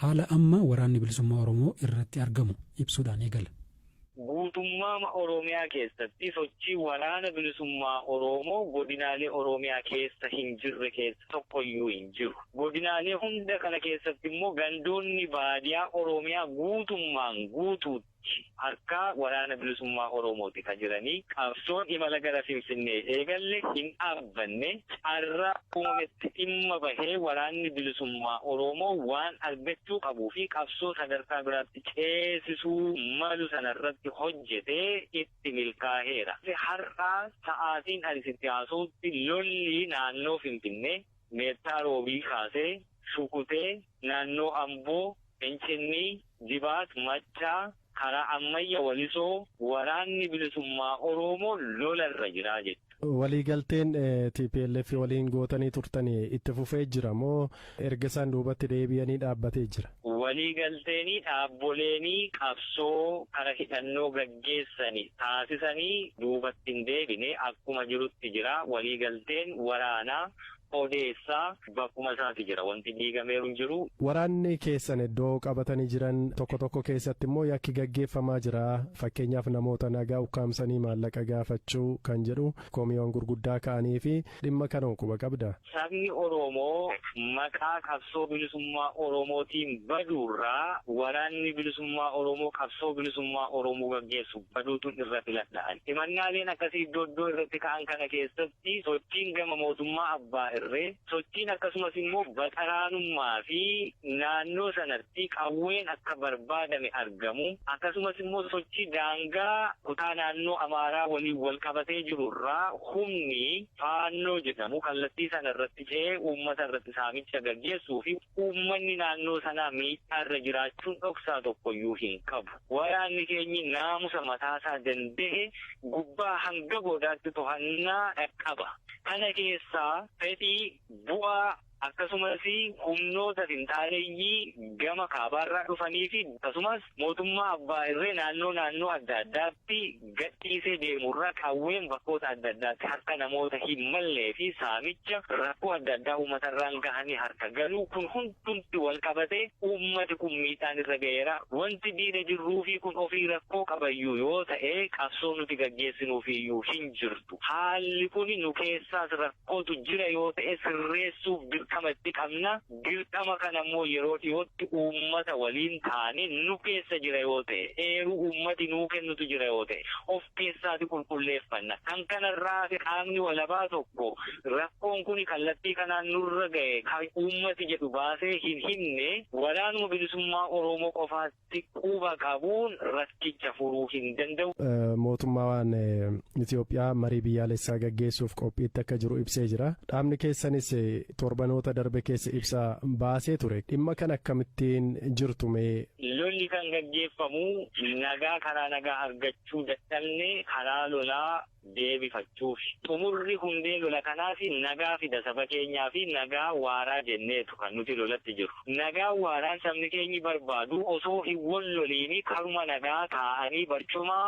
Haala amma Waraanni Bilisummaa Oromoo irratti argamu ibsuudhaan eegala. Guutummaama Oromiyaa keessatti sochii Waraana Bilisummaa Oroomoo godinaalee Oromiyaa keessa hin jirre keessa tokko iyyuu hin jiru. Godinaalee hunda kana keessatti immoo gandoonni baadiyaa Oromiyaa guutummaan guutuutti. Sh harkaa waraana bilisummaa oromooti ka jiranii qabsoon imala gara finfinnee eegalle hin dhaabbanne carraa uumametti dhimma bahee waraanni bilisummaa oromoo waan argachuu qabuu fi qabsoo sadarkaa biraatti ceesisuu malu sana irratti hojjetee itti milkaaheera har'a sa'aatiin ani sitti haasawutti lolli naannoo finfinnee Meettaa Roobii kaasee Shukutee, naannoo Amboo, Fincinnii, Dibaat, Maccaa, karaa Ammayya, Walisoo waraanni bilisummaa Oroomoo lola irra jira jette. Waliigalteen tplf waliin gootanii turtani itti fufee jira moo erga isaan duubatti deebi'anii dhaabbatee jira? Waliigalteeni dhaabboleeni qabsoo kara hidhannoo gaggeessani taasisani duubatti hin deebine akkuma jirutti jira. Waliigalteen waraana odeessa bakkuma isaati jira. Wanti diigameeru hin jiru. Waraanni keessan iddoo qabatani jiran tokko tokko keessatti immoo yakki gaggeeffamaa jira. Fakkeenyaaf namoota nagaa ukkaamsanii maallaqa gaafachuu kan jedhu komiiwan gurguddaa ka'anii fi Dhimma kanoo quba qabda? Sabni Oroomoo maqaa qabsoo bilisummaa Oromootiin baduurraa waraanni bilisummaa Oromoo qabsoo bilisummaa Oromoo gaggeessu baduutu irra filadhaan. Himannaaleen akkasii iddoo iddoo irratti ka'an kana keessatti sochiin gama mootummaa abbaa irree, sochiin akkasumas immoo baxaraanummaa fi naannoo sana fi qawween akka barbaadame argamu, akkasumas immoo sochii daangaa kutaa naannoo Amaaraa waliin wal qabatee jiru irraa humni Faannoo jedhamu kallattii sana irratti ce'ee uummata irratti saamicha gaggeessuu fi uummanni naannoo sanaa miidhaa irra jiraachuun dhoksaa tokko iyyuu hin qabu. Waraanni keenyi naamusa mataa isaa danda'e gubbaa hanga goodaatti tohannaa qaba. Kana keessaa fedhii, bu'aa, akkasumas humnoota finxaaleyyii gama kaabaarraa dhufaniifi akkasumas mootummaa abbaa irree naannoo naannoo adda addaatti gadhiisee deemurraa qawween bakkoota adda addaatti harka namoota hin malleefi saamicha rakkoo adda addaa uummatarraan gahanii harka galuu kun hundumti wal qabatee uummati kun miidhaan irra gaheera wanti diina jirruufi kun ofii rakkoo qabayyuu yoo ta'e qabsoo nuti gaggeessinuufiyyuu hin jirtu haalli kun nu keessaas rakkoo rakkootu jira yoo ta'e sirreessuuf dirqama itti qabna. Dirqama kana immoo yeroo dhiyootti uummata waliin taanee nu keessa jira yoo ta'e, eeruu uummati nuu kennutu jira yoo ta'e of keessaati qulqulleeffanna. Kan kana irraa hafe qaamni walabaa tokko rakkoon kuni kallattii kanaan nurra ga'e kan uummati jedhu baasee hin himne waraanuma bilisummaa Oromoo qofaatti. dhukkuba qabuun rakkicha furuu hin danda'u. Mootummaan Itoophiyaa marii biyyaalessaa gaggeessuuf qophiitti akka jiru ibsee jira. Dhaabni keessanis torbanoota darbe keessa ibsa baasee ture. Dhimma kan akkamittiin jirtu mee? Lolli kan gaggeeffamu nagaa karaa nagaa argachuu dadhabne karaa lolaa deebifachuufi. Xumurri hundee lola kanaas nagaa fida saba keenyaafi nagaa waaraa jenneetu kan nuti lolatti jirru. Nagaa waaraan sabni keenyi barbaadu osoo hin wal loliin karuma nagaa taa'anii barcuma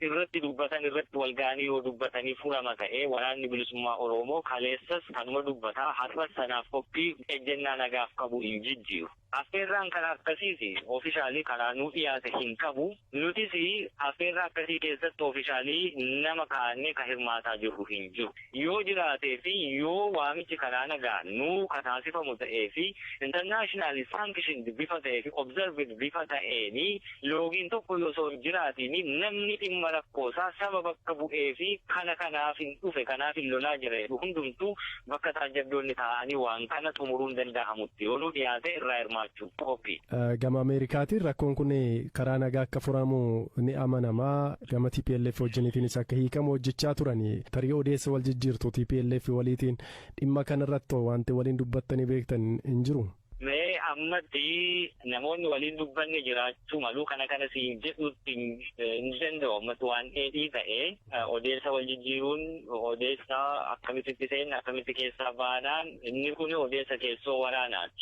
irratti dubbatan irratti wal ga'anii yoo dubbatanii furama ta'ee Waraanni Bilisummaa Oroomoo kaleessas kanuma dubbata har'as sanaaf qophii ejjennaa nagaaf qabu hin jijjiiru. Affeerraan kan akkasiis officially karaa nuu dhiyaate hin qabu. Nutis affeerraa akkasii keessatti officially nama kaa'annee kan hirmaataa jirru hin jiru. Yoo jiraatee fi yoo waamichi karaa nagaan nuu ka taasifamu ta'ee fi internationally sanctioned bifa ta'ee fi observed bifa ta'een loogiin tokko yoo osoo hin jiraatiin namni dhimma rakkoo isaa saba bakka bu'ee fi kana kanaafin dhufe kanaafin lolaa jira jedhu hundumtuu bakka taajjabdoonni taa'anii waan kana xumuruun danda'amutti yoo nuu dhiyaate irraa hirmaachuuf qophii. Gama Ameerikaatiin rakkoon kun karaa nagaa akka furamu ni amanama. Gama TPLF wajjiniitiinis akka hiikamu hojjechaa turani. Tarii odeessa wal jijjiirtu TPLF waliitiin dhimma kanarratti wanti waliin dubbattanii beektan hin jiru? Mee ammatti namoonni waliin dubbanne jiraachuu malu kana kana siin jedhuutti hin danda'u ammatti waan dheedhii ta'e odeessa wal jijjiiruun odeessa akkamitti itti seenna akkamitti keessaa baanaan inni kun odeessa keessoo waraanaati.